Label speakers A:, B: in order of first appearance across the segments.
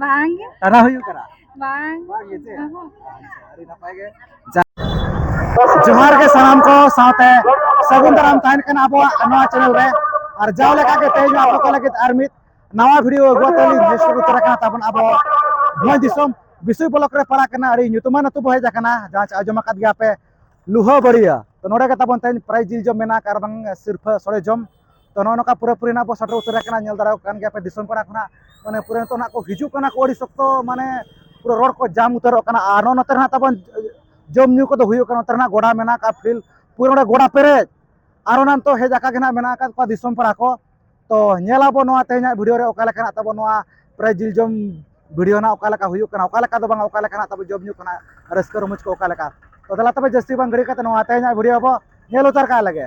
A: ᱵᱟᱝ ᱜᱮ ᱛᱟᱨᱟ ᱦᱩᱭᱩᱜ ᱠᱟᱱᱟ ᱵᱟᱝ ᱵᱟᱝ ᱜᱮ ᱪᱮ ᱟᱹᱰᱤ ᱱᱟᱯᱟᱭ ᱜᱮ ᱡᱚᱦᱟᱨ ᱜᱮ ᱥᱟᱱᱟᱢ ᱠᱚ ᱥᱟᱶᱛᱮ ᱥᱟᱹᱜᱩᱱ ᱫᱟᱨᱟᱢ ᱛᱟᱦᱮᱱ ᱠᱟᱱᱟ ᱟᱵᱚᱣᱟᱜ ᱱᱚᱣᱟ ᱪᱮᱱᱮᱞ ᱨᱮ ᱟᱨ ᱡᱟᱣ ᱞᱮᱠᱟ ᱜᱮ ᱛᱮᱦᱮᱧ ᱟᱵᱚ ᱠᱚ ᱞᱟᱹᱜᱤᱫ ᱟᱨ ᱢᱤᱫ ᱱᱟᱣᱟ ᱵᱷᱤᱰᱤᱭᱳ ᱟᱹᱜᱩ ᱠᱟᱛᱮ ᱞᱤᱧ ᱦᱮᱡ ᱩᱛᱟᱹᱨ ᱟᱠᱟᱱᱟ ᱛᱟᱵᱚᱱ ᱟᱵᱚ ᱵᱷᱚᱸᱡᱽ ᱫᱤᱥᱚᱢ ᱵᱤᱥᱩᱭ ᱵᱞᱚᱠ ᱨᱮ ᱯᱟᱲᱟᱜ ᱠᱟᱱᱟ ᱟᱹᱰᱤ ᱧᱩᱛᱩᱢᱟᱱ ᱟᱹᱛᱩ ᱵᱚ ᱦᱮᱡ ᱟᱠᱟᱱᱟ ᱡᱟᱦᱟᱸ ᱪᱮ ᱟᱸᱡᱚᱢ ᱟᱠᱟᱫ ᱜᱮᱭᱟ ᱯᱮ ᱞᱩᱦᱟᱹ ᱵᱟᱹᱲᱤᱭᱟᱹ ᱛᱚ ᱱᱚᱰᱮ ᱜᱮ ᱛᱟᱵᱚᱱ ᱛᱮᱦᱮᱧ ᱯᱨᱟᱭ ᱡᱤᱞ ᱡᱚᱢ ᱢᱮᱱᱟᱜ ᱟᱨ ᱵᱟᱝ ᱥᱤᱨᱯᱷᱟᱹ ᱥᱚᱲᱮ ᱡᱚᱢ ᱛᱚ ᱱᱚᱜᱼᱚ ᱱᱚᱝᱠᱟ ᱯᱩᱨᱟᱹ ᱯᱩᱨᱤ ᱱᱟᱜ ᱵᱚ ᱥᱮᱴᱮᱨ ᱩᱛᱟᱹᱨ ᱟᱠᱟᱱᱟ ᱧᱮᱞ ᱫᱟᱲᱮᱭᱟᱜ ᱠᱟᱱ ᱜᱮᱭᱟ ᱯᱮ ᱫᱤᱥᱚᱢ ᱯᱟᱲᱟ ᱠᱷᱚᱱᱟᱜ ᱢᱟᱱᱮ ᱯᱩᱨᱟᱹ ᱱᱤᱛᱚᱜ ᱱᱟᱜ ᱠᱚ ᱦᱤᱡᱩᱜ ᱠᱟᱱᱟ ᱠᱚ ᱟᱹᱰᱤ ᱥᱚᱠᱛᱚ ᱢᱟᱱᱮ ᱯᱩᱨᱟᱹ ᱨᱚᱲ ᱠᱚ ᱡᱟᱢ ᱩᱛᱟᱹᱨᱚᱜ ᱠᱟᱱᱟ ᱟᱨ ᱱᱚᱜᱼᱚ ᱱᱚᱛᱮ ᱱᱟᱜ ᱛᱟᱵᱚᱱ ᱡᱚᱢ ᱧᱩ ᱠᱚᱫᱚ ᱦᱩᱭᱩᱜ ᱠᱟᱱᱟ ᱱᱚᱛᱮ ᱱᱟᱜ ᱜᱚᱰᱟ ᱢᱮᱱᱟᱜ ᱟᱠᱟᱫ ᱯᱷᱤᱞ ᱯᱩᱨᱟᱹ ᱱᱚᱰᱮ ᱜᱚᱰᱟ ᱯᱮᱨᱮᱡ ᱟᱨ ᱚᱱᱟ ᱱᱤᱛᱚᱜ ᱦᱮᱡ ᱟᱠᱟ ᱜᱮ ᱱᱟᱜ ᱢᱮᱱᱟᱜ ᱟᱠᱟᱫ ᱠᱚᱣᱟ ᱫᱤᱥᱚᱢ ᱯᱟᱲᱟ ᱠᱚ ᱛᱚ ᱧᱮᱞᱟᱵᱚ ᱱᱚᱣᱟ ᱛᱮᱦᱮᱧᱟᱜ ᱵᱷᱤᱰᱤᱭᱳ ᱨᱮ ᱚᱠᱟ ᱞᱮᱠᱟᱱᱟᱜ ᱛᱟᱵᱚ ᱱᱚᱣᱟ ᱯᱨᱟᱭ ᱡᱤᱞ ᱡᱚᱢ ᱵᱷᱤᱰᱤᱭᱳ ᱱᱟᱜ ᱚᱠᱟ ᱞᱮᱠᱟ ᱦᱩᱭᱩᱜ ᱠᱟᱱᱟ ᱚᱠᱟ ᱞᱮᱠᱟ ᱫᱚ ᱵᱟᱝ ᱚᱠᱟ ᱞᱮᱠᱟᱱᱟᱜ ᱛᱟᱵᱚ ᱡᱚᱢ ᱧᱩ ᱠᱟᱱᱟ ᱨᱟᱹᱥᱠᱟᱹ ᱨᱚᱢᱚᱡᱽ ᱠᱚ ᱚᱠᱟ ᱞᱮᱠᱟ ᱛᱚ ᱫᱮᱞᱟ ᱛᱚᱵᱮ ᱡᱟᱹᱥᱛᱤ ᱵᱟᱝ ᱜᱷᱟᱹᱲᱤ ᱠᱟᱛᱮ ᱱᱚᱣᱟ ᱛᱮᱦᱮᱧᱟᱜ ᱵᱷᱤᱰᱤᱭᱳ ᱵᱚ ᱧᱮᱞ ᱩᱛᱟᱹᱨ ᱠᱟᱜ ᱞᱮᱜᱮ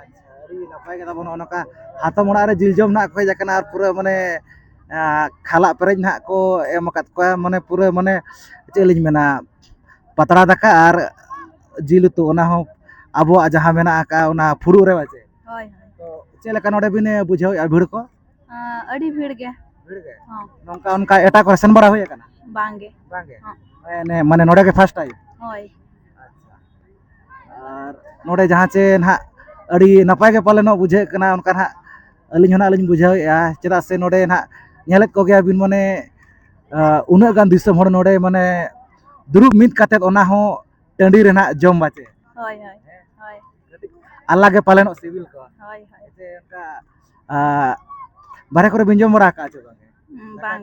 A: ᱟᱪᱪᱷᱟ ᱟᱹᱰᱤ ᱱᱟᱯᱟᱭ ᱠᱟᱛᱷᱟ ᱵᱚᱱ ᱱᱚᱜᱼᱚ ᱱᱚᱝᱠᱟ ᱦᱟᱛᱚᱢ ᱚᱲᱟᱜ ᱨᱮ ᱡᱤᱞ ᱡᱚᱢ ᱱᱟᱜ ᱠᱚ ᱦᱮᱡ ᱟᱠᱟᱱᱟ ᱟᱨ ᱯᱩᱨᱟᱹ ᱢᱟᱱᱮ ᱠᱷᱟᱞᱟᱜ ᱯᱮᱨᱮᱡ ᱱᱟᱜ ᱠᱚ ᱮᱢ ᱟᱠᱟᱫ ᱠᱚᱣᱟ ᱢᱟᱱᱮ ᱯᱩᱨᱟᱹ ᱢᱟᱱᱮ ᱪᱮᱫ ᱞᱤᱧ ᱢᱮᱱᱟ ᱯᱟᱛᱲᱟ ᱫᱟᱠᱟ ᱟᱨ ᱡᱤᱞ ᱩᱛᱩ ᱚᱱᱟ ᱦᱚᱸ ᱟᱵᱚᱣᱟᱜ ᱡᱟᱦᱟᱸ ᱢᱮᱱᱟᱜ ᱟᱠᱟᱫ ᱚᱱᱟ ᱯᱷᱩᱲᱩᱜ ᱨᱮ ᱵᱟᱪᱮ ᱦᱳᱭ ᱛᱚ
B: ᱪᱮᱫ ᱞᱮᱠᱟ
A: ᱱᱚᱰᱮ ᱵᱤᱱ ᱵᱩᱡᱷᱟᱹᱣᱮᱫᱼᱟ ᱵᱷᱤᱲ ᱠᱚ ᱟᱹᱰᱤ ᱵᱷᱤᱲ
B: ᱜᱮ ᱵᱷᱤᱲ ᱜᱮ ᱦᱚᱸ
A: ᱱᱚᱝᱠᱟ ᱚᱱᱠᱟ
B: ᱮᱴᱟᱜ ᱠᱚᱨᱮ
A: ᱥᱮᱱ ᱵᱟᱲᱟ ᱦᱩᱭ ᱟᱠᱟᱱᱟ ᱵᱟᱝᱜᱮ
B: ᱵᱟᱝᱜᱮ
A: ᱦᱚᱸ
B: ᱢᱟᱱᱮ ᱱᱚᱰᱮ ᱜᱮ
A: ᱯᱷᱟᱥᱴ ᱴᱟᱭᱤᱢ ᱦᱳᱭ ᱟᱨ ᱱᱚᱰᱮ ᱡᱟᱦᱟᱸ ᱪᱮ ᱱᱟᱦᱟᱜ ᱟᱹᱰᱤ ᱱᱟᱯᱟᱭ ᱜᱮ ᱯᱟᱞᱮᱱ ᱱᱚᱜ ᱵᱩᱡᱷᱟᱹᱜ ᱠᱟᱱᱟ ᱚᱱᱠᱟ ᱱᱟᱦᱟᱜ ᱟᱹᱞᱤᱧ ᱦᱚᱸ ᱱᱟᱦᱟᱜ ᱞᱤᱧ ᱵᱩᱡᱷᱟᱹᱣᱮᱫᱼᱟ ᱪᱮᱫᱟᱜ ᱥᱮ ᱱᱚᱰᱮ ᱱᱟᱦᱟᱜ ᱧᱮᱞᱮᱫ ᱠᱚᱜᱮᱭᱟ ᱵᱤᱱ ᱢᱟᱱᱮ ᱩᱱᱟᱹᱜ ᱜᱟᱱ ᱫᱤᱥᱚᱢ ᱦᱚᱲ ᱱᱚᱰᱮ ᱢᱟᱱᱮ ᱫᱩᱲᱩᱵ ᱢᱤᱫ ᱠᱟᱛᱮᱫ ᱚᱱᱟ ᱦᱚᱸ ᱴᱟᱺᱰᱤ ᱨᱮ ᱱᱟᱦᱟᱜ ᱡᱚᱢ ᱵᱟᱪᱮ ᱦᱳᱭ
B: ᱦᱳᱭ ᱦᱳᱭ ᱟᱞᱟᱜᱽ
A: ᱜᱮ ᱯᱟᱞᱮᱱᱚᱜ ᱥᱤᱵᱤᱞ ᱠᱚᱣᱟ ᱦᱳᱭ ᱦᱳᱭ ᱥᱮ ᱚᱱᱠᱟ ᱵᱟᱨᱦᱮ ᱠᱚᱨᱮ ᱵᱤᱱ ᱡᱚᱢ ᱵᱟᱲᱟ ᱟᱠᱟᱫᱼᱟ ᱪᱮ ᱵᱟᱝ ᱵᱟᱝ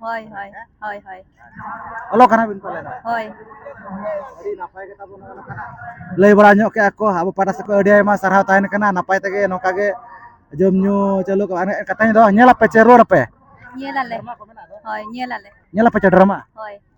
B: ᱦᱳᱭ ᱦᱳᱭ ᱦᱳᱭ ᱦᱳᱭ ᱚᱞᱚᱜ ᱠᱟᱱᱟ
A: ᱵᱤᱱ ᱯᱟᱞᱮᱱ ᱦᱳᱭ ᱟᱹᱰᱤ ᱱᱟᱯᱟᱭ ᱠᱟᱛᱷᱟ ᱵᱚᱱ ᱚᱞ ᱠᱟᱱᱟ ᱞᱟᱹᱭ ᱵᱟᱲᱟ ᱧᱚᱜ ᱠᱮᱜᱼᱟ ᱠᱚ ᱟᱵᱚ ᱯᱟᱦᱴᱟ ᱥᱮᱫ ᱠᱷᱚᱱ ᱟᱹᱰᱤ ᱟᱭᱢᱟ ᱥᱟᱨᱦᱟᱣ ᱛᱟᱦᱮᱱ ᱠᱟᱱᱟ ᱱᱟᱯᱟᱭ ᱛᱮᱜᱮ ᱱᱚᱝᱠᱟ ᱜᱮ ᱡᱚᱢ ᱧᱩ ᱪᱟᱹᱞᱩ ᱠᱚᱜᱼᱟ ᱮᱱᱮᱡ ᱠᱟᱛᱷᱟᱧ ᱫᱚ ᱧᱮᱞᱟᱯᱮ ᱪᱮ ᱨᱩᱣᱟᱹᱲ ᱟᱯᱮ ᱧᱮᱞᱟᱞᱮ ᱦᱳᱭ
B: ᱧᱮᱞᱟᱞᱮ ᱧᱮᱞᱟᱯᱮ ᱪᱮ ᱰᱨᱟᱢᱟ ᱦᱳᱭ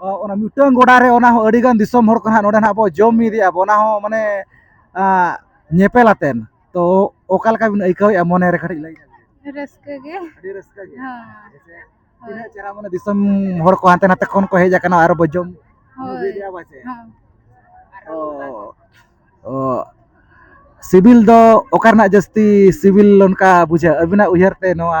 A: ᱚᱱᱟ ᱢᱤᱫᱴᱟᱝ ᱜᱚᱰᱟ ᱨᱮ ᱚᱱᱟ ᱦᱚᱸ ᱟᱹᱰᱤ ᱜᱟᱱ ᱫᱤᱥᱚᱢ ᱦᱚᱲ ᱠᱚ ᱱᱟᱦᱟᱜ ᱱᱚᱰᱮ ᱱᱟᱦᱟᱜ ᱵᱚ ᱡᱚᱢ ᱢᱤᱫᱮᱜᱼᱟ ᱵᱚ ᱚᱱᱟ ᱦᱚᱸ ᱢᱟᱱᱮ ᱧᱮᱯᱮᱞ ᱟᱛᱮᱱ ᱛᱚ ᱚᱠᱟ ᱞᱮᱠᱟ ᱵᱤᱱ ᱟᱹᱭᱠᱟᱹᱣᱮᱜᱼᱟ ᱢᱚᱱᱮ ᱨᱮ ᱠᱟᱹᱴᱤᱡ ᱞᱟᱹᱭ ᱨᱟᱹᱥᱠᱟᱹ ᱜᱮ ᱟᱹᱰᱤ ᱨᱟᱹᱥᱠᱟᱹ
B: ᱜᱮ ᱛᱤᱱᱟᱹᱜ
A: ᱪᱮᱦᱨᱟ ᱢᱟᱱᱮ ᱫᱤᱥᱚᱢ ᱦᱚᱲ ᱠᱚ ᱦᱟᱱᱛᱮ ᱱᱟᱛᱮ ᱠᱷᱚᱱ ᱠᱚ ᱦᱮᱡ ᱟᱠᱟᱱᱟ ᱟᱨ ᱵᱚ ᱡᱚᱢ ᱢᱤᱫᱮᱜᱼᱟ ᱵᱚ ᱪᱮ ᱥᱤᱵᱤᱞ ᱫᱚ ᱚᱠᱟ ᱨᱮᱱᱟᱜ ᱡᱟᱹᱥᱛᱤ ᱥᱤᱵᱤᱞ ᱚᱱᱠᱟ ᱵᱩᱡᱷᱟᱹᱜᱼᱟ ᱟᱹᱵᱤᱱᱟᱜ ᱩᱭᱦᱟᱹᱨ ᱛᱮ ᱱᱚᱣᱟ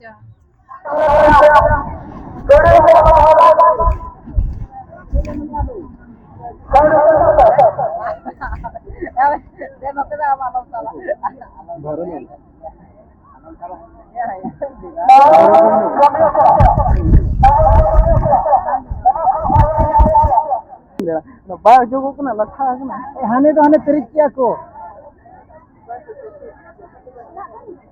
A: ᱡᱟ ᱵᱟᱭ ᱚᱡᱚᱜᱚᱜ ᱠᱟᱱᱟ ᱞᱟᱴᱷᱟ ᱟᱠᱟᱱᱟ ᱦᱟᱱᱮ ᱫᱚ ᱦᱟᱱᱮ ᱯᱮᱨᱮᱡ ᱠᱮᱭᱟ ᱠᱚ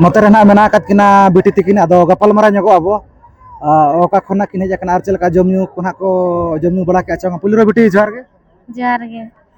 A: ᱱᱚᱛᱮ ᱨᱮ ᱱᱟᱦᱟᱜ ᱢᱮᱱᱟᱜ ᱟᱠᱟᱫ ᱠᱤᱱᱟ ᱵᱤᱴᱤ ᱛᱤᱠᱤᱱ ᱟᱫᱚ ᱜᱟᱯᱟᱞᱢᱟᱨᱟᱣ ᱧᱚᱜᱚᱜ ᱟᱵᱚ ᱚᱠᱟ ᱠᱷᱚᱱᱟᱜ ᱠᱤᱱ ᱦᱮᱡ ᱟᱠᱟᱱᱟ ᱟᱨ ᱪᱮᱫ ᱞᱮᱠᱟ ᱡᱚᱢ ᱧᱩ ᱠᱚ ᱱᱟᱦᱟᱜ ᱠᱚ ᱡᱚᱢ ᱧᱩ ᱵᱟᱲᱟ ᱠᱮᱜᱼᱟ ᱪᱮ ᱵᱟᱝ ᱯᱩᱭᱞᱩ ᱨᱮ ᱵᱤᱴᱤ ᱡᱚᱦᱟᱨ ᱜᱮ ᱡᱚᱦᱟᱨ ᱜᱮ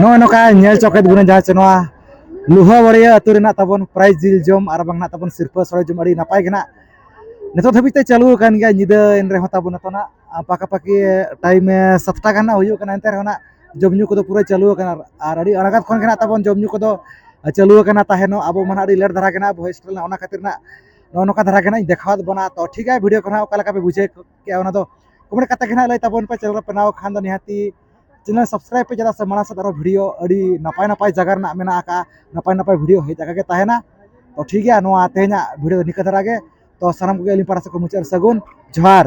C: ᱱᱚᱜᱼᱚᱭ ᱱᱚᱝᱠᱟ ᱧᱮᱞ
A: ᱪᱚᱠᱮᱫ ᱵᱚᱱᱟ ᱡᱟᱦᱟᱸ ᱪᱮ ᱱᱚᱣᱟ ᱞᱩᱦᱟ ᱵᱟᱲᱤᱭᱟᱹ ᱟᱹᱛᱩ ᱨᱮᱱᱟᱜ ᱛᱟᱵᱚᱱ ᱯᱨᱟᱭ ᱡᱤᱞ ᱡᱚᱢ ᱟᱨ ᱵᱟᱝ ᱱᱟᱜ ᱛᱟᱵᱚᱱ ᱥᱤᱨᱯᱟᱹ ᱥᱚᱲᱮ ᱡᱚᱢ ᱟᱹᱰᱤ ᱱᱟᱯᱟᱭ ᱜᱮ ᱱᱟᱜ ᱱᱤᱛᱚᱜ ᱫᱷᱟᱹᱵᱤᱡ ᱛᱮ ᱪᱟᱹᱞᱩ ᱟᱠᱟᱱ ᱜᱮᱭᱟ ᱧᱤᱫᱟᱹ ᱮᱱ ᱨᱮᱦᱚᱸ ᱛᱟᱵᱚᱱ ᱱᱤᱛᱚᱜ ᱱᱟᱜ ᱯᱟᱠᱟᱯᱟᱠᱤ ᱴᱟᱭᱤᱢ ᱥᱟᱛᱴᱟ ᱜᱟᱱ ᱱᱟᱜ ᱦᱩᱭᱩᱜ ᱠᱟᱱᱟ ᱮᱱᱛᱮ ᱨᱮᱦᱚᱸ ᱱᱟᱜ ᱡᱚᱢ ᱧᱩ ᱠᱚᱫᱚ ᱯᱩᱨᱟᱹ ᱪᱟᱹᱞᱩ ᱟᱠᱟᱱᱟ ᱟᱨ ᱟᱹᱰᱤ ᱟᱬᱜᱟᱛ ᱠᱷᱚᱱ ᱜᱮ ᱱᱟᱜ ᱛᱟᱵᱚᱱ ᱡᱚᱢ ᱧᱩ ᱠᱚᱫᱚ ᱪᱟᱹᱞᱩ ᱟᱠᱟᱱᱟ ᱛᱟᱦᱮᱱᱚᱜ ᱟᱵᱚ ᱢᱟ ᱟᱹᱰᱤ ᱞᱮᱴ ᱫᱷᱟᱨᱟ ᱜᱮ ᱱᱟᱜ ᱵᱷᱚᱭᱮᱥ ᱨᱮᱱᱟᱜ ᱚᱱᱟ ᱠᱷᱟᱹᱛᱤᱨ ᱱᱟᱜ ᱱᱚᱜᱼᱚ ᱱᱚᱝᱠᱟ ᱫᱷᱟᱨᱟ ᱜᱮ ᱱᱟᱜ ᱤᱧ ᱫᱮᱠᱷᱟᱣᱟᱫ ᱵᱚᱱᱟ ᱛᱚ ᱴᱷᱤᱠ ᱜᱮᱭᱟ ᱵᱷᱤᱰᱤᱭᱳ ᱠᱚ ᱱᱟᱜ ᱚᱠᱟ ᱞᱮᱠᱟ ᱯᱮ ᱵᱩᱡᱷᱟᱹᱣ ᱠᱮᱜᱼᱟ ᱚᱱᱟ ᱫᱚ ᱠᱚᱢᱮᱱᱴ ᱠᱟᱛᱮ ᱜᱮ ᱱᱟᱦᱟᱜ ᱞᱟᱹᱭ ᱛᱟᱵᱚᱱ ᱯᱮ ᱪᱮᱱᱮᱞ ᱨᱮ ᱵᱮᱱᱟᱣ ᱠᱷᱟᱱ ᱫᱚ ᱱᱤᱦᱟᱹᱛᱤ ᱪᱮᱱᱮᱞ ᱥᱟᱵᱥᱠᱨᱟᱭᱤᱵ ᱯᱮ ᱪᱮᱫᱟᱜ ᱥᱮ ᱢᱟᱲᱟᱝ ᱥᱮᱫ ᱟᱨᱚ ᱵᱷᱤᱰᱤᱭᱳ ᱟᱹᱰᱤ ᱱᱟᱯᱟᱭ ᱱᱟᱯᱟᱭ ᱡᱟᱭᱜᱟ ᱨᱮᱱᱟᱜ ᱢᱮᱱᱟᱜ ᱟᱠᱟᱜᱼᱟ ᱱᱟᱯᱟᱭ ᱱᱟᱯᱟᱭ ᱵᱷᱤᱰᱤᱭᱳ ᱦᱮᱡ ᱟᱠᱟᱜᱮ ᱛᱟᱦᱮᱱᱟ ᱛᱚ ᱴᱷᱤᱠ ᱜᱮᱭᱟ ᱱᱚᱣᱟ ᱛᱮᱦᱮᱧᱟᱜ ᱵᱷᱤᱰᱤᱭᱳ ᱫᱚ ᱱᱤᱝᱠᱟᱹ ᱫᱷᱟᱨᱟ ᱜᱮ ᱛᱚ ᱥᱟᱱᱟᱢ ᱠᱚᱜᱮ ᱟᱹᱞᱤᱧ ᱯᱟᱦᱴᱟ ᱥᱮᱫ ᱠᱷᱚᱱ ᱢᱩᱪᱟᱹᱫ ᱨᱮ ᱥᱟᱹᱜᱩᱱ ᱡᱚᱦᱟᱨ